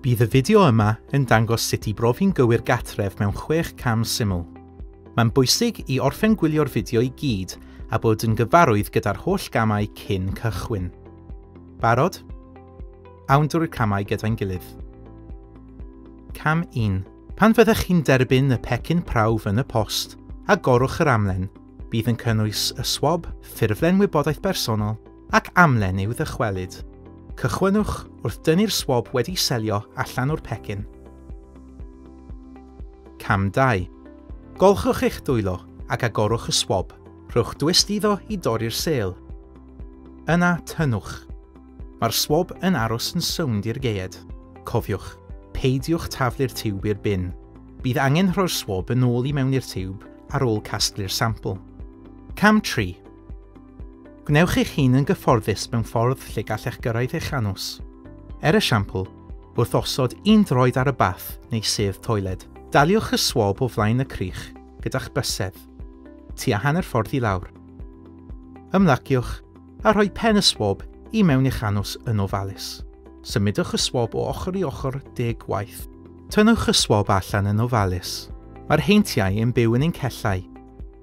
Bydd y fideo yma yn dangos sut i brofi'n gywir gatref mewn chwech cam syml. Mae'n bwysig i orffen gwylio'r fideo i gyd a bod yn gyfarwydd gyda'r holl gamau cyn cychwyn. Barod? Awn drwy'r camau gyda'n gilydd. Cam 1. Pan fyddech chi'n derbyn y pecyn prawf yn y post, agorwch yr amlen. Bydd yn cynnwys y swab, ffurflen wybodaeth bersonol, ac amlen i'w ddychwelyd. Cychwynnwch wrth dynnu'r swab wedi selio allan o'r pecyn. Cam 2. Golchwch eich dwylo ac agorwch y swab. Rhowch dwist iddo i dorri'r sêl. Yna, tynnwch. Mae'r swab yn aros yn sownd i'r geied. Cofiwch, peidiwch taflu'r tiwb i'r bin. Bydd angen rhoi'r swab yn ôl i mewn i'r tiwb ar ôl casglu'r sampl. Cam 3. Gwnewch eich hun yn gyfforddus mewn ffordd lle gallech gyrraedd eich anws. Er esiampl, wrth osod un droed ar y bath neu sedd toiled. Daliwch y swab o flaen y crych gyda'ch bysedd, tua hanner ffordd i lawr. Ymlaciwch a rhoi pen y swab i mewn i'ch anws yn ofalus. Symudwch y swab o ochr i ochr deg gwaith. Tynnwch y swab allan yn ofalus. Mae'r heintiau yn byw yn ein cellau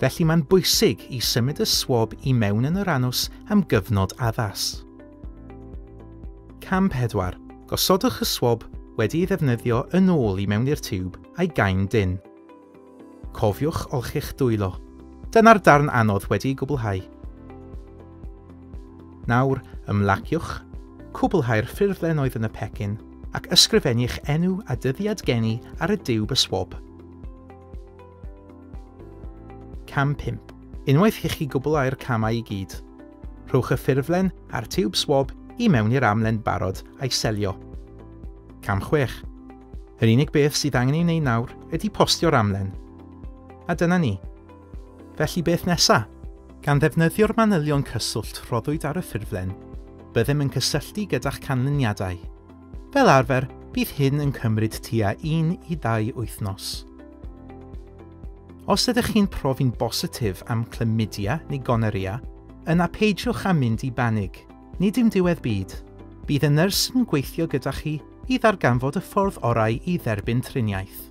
Felly mae'n bwysig i symud y swab i mewn yn yr anws am gyfnod addas. Cam 4. Gosodwch y swab wedi ei ddefnyddio yn ôl i mewn i'r tiwb a'i gain dynn. Cofiwch olchi'ch dwylo. Dyna'r darn anodd wedi'i gwblhau. Nawr, ymlaciwch, cwblhau'r ffurflen oedd yn y pecyn, ac ysgrifennu'ch enw a dyddiad geni ar y diwb y swab. Cam 5. Unwaith i chi gwblhau'r camau i gyd, rhowch y ffurflen a'r tiwb swab i mewn i'r amlen barod a'i selio. Cam 6. Yr unig beth sydd angen ei wneud nawr ydy postio'r amlen. A dyna ni. Felly beth nesa? Gan ddefnyddio'r manylion cyswllt rhoddwyd ar y ffurflen, byddem yn cysylltu gyda'ch canlyniadau. Fel arfer, bydd hyn yn cymryd tua 1 i 2 wythnos. Os ydych chi'n profi'n bositif am chlamydia neu gonorrhea, yna peidiwch â mynd i banig. Nid yw'n diwedd byd. Bydd y nyrs yn gweithio gyda chi i ddarganfod y ffordd orau i dderbyn triniaeth.